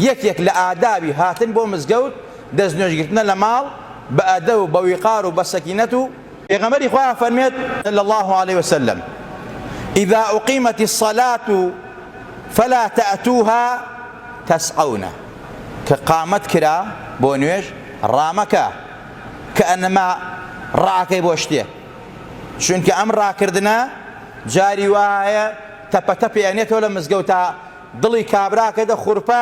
یەکێک لە ئادابی هاتن بۆ مزگەوت دەست نوێژ گرتنە لە ماڵ بە ئەدەب و بە ویقار و بە سەکینەت و. پێغەمبەری خوا ئەفەرموێت، صلی اللە علیە وسلم، اذا اقیمت الصلاة فلا تاتوها تسعون، کە قامەت کرا بۆ نوێژ ڕامەکە، کە ئەنما ڕاکەی بۆ شتێ، چونکە ئەم ڕاکردنە جاری وا هەیە تەپە تەپێ ئەنێتەوە لە مزگەوتا، دڵی کابرا کە دە خورپە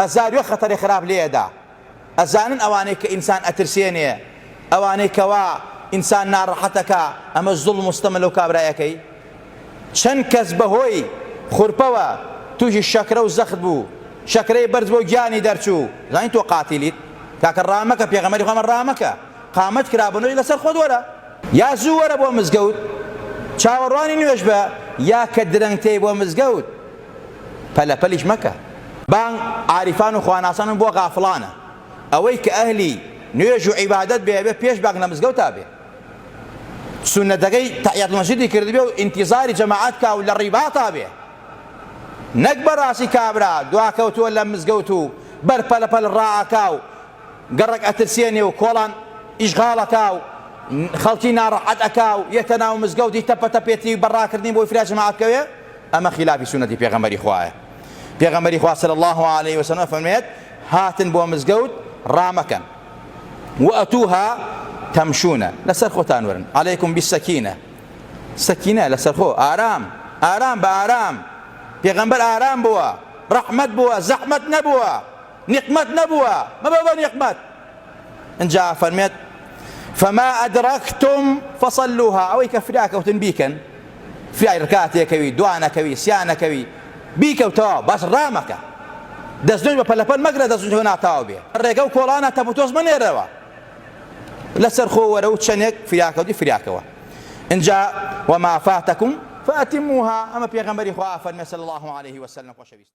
هەزار وێ خەتەرێ خراپ لێ ئەدا ئەزانن ئەوانەی کە ئینسان ئەترسێنێ ئەوانەی کەوا ئینسان ناڕەحەت ئەکا ئەمە زوڵم و ستەمە لەو کابرای ئەکەی چەن کەس بە هۆی خورپەوە توشی شەکرە و زەخت بوو شەکرەی بەرز بۆ گیانی دەرچوو زانی تۆ قاتیلیت کاکە ڕامەکە پێغەمبەری خوا مە ڕامەکە قامەت کرا بە نۆی لەسەر خۆت وەرە. یا زوو وەرە بۆ مزگەوت چاوەڕوانی نوێژ بە یا کە درەنگ تێی بۆ مزگەوت پەلە پەلیش مەکە. بانگ عارفان و خواناسان و بۆ غافڵانە ئەوەی کە ئەهلی نوێژ و عیبادەت بێ ئەبێ پێش بانگ لە مزگەوتا بێ سوننەتەکەی تەحیات المسجدی کردبێ و ئینتیزاری جەماعەت کا و لە ڕیباتا بێ نەک بەڕاستی کابرا دواکەوتووە لە مزگەوت و بەر پەلە پەل ڕائەکا و گەڕەک ئەترسێنێ و کۆڵان ئیشغاڵ ئەکا و خەڵکی ناڕەحەت ئەکا و یەتە ناو مزگەوتی تەپە تەپێتی بە ڕاکردنی بۆی فرە جەماعەت بکەوێ ئەمە خیلافی سوننەتی پێغەمبەری خوایە پێغەمبەری خوا صلی اللە علیە و سلم ئەفەرموێت هاتن بۆ مزگەوت ڕامەکەن وئەتوها تەمشونە لەسەر خۆتان وەرن علیکم بالسکینە سەکینە لەسەر خۆ ئارام ئارام بە ئارام پێغەمبەر ئارام بووە ڕەحمەت بووە زەحمەت نەبووە نیقمەت نەبووە مەبە بە نیقمەت ئنجا ئەفەرمێت فما ادرکتم فصلوها ئەوەی کە فریا کەوتن بیکەن فریای رکاتێ کەوی دوا نەکەوی سیا نەکەوی بیکەو تەواو بەس رامەکە دەست نوێژ بە پەلەپەل مەگرە دەست نوێژ ناتەواو بێ رێگە و کۆڵانە تەپوتۆز مەنێرەوە لەسەر خۆ وەرە و چەندێک فریاکەوتی فریاکەوە ئنجا وما فاتکم فاتموها ئەمە پێغەمبەری خوا فەرمێ صلی الله علیه وسلم خۆشەویست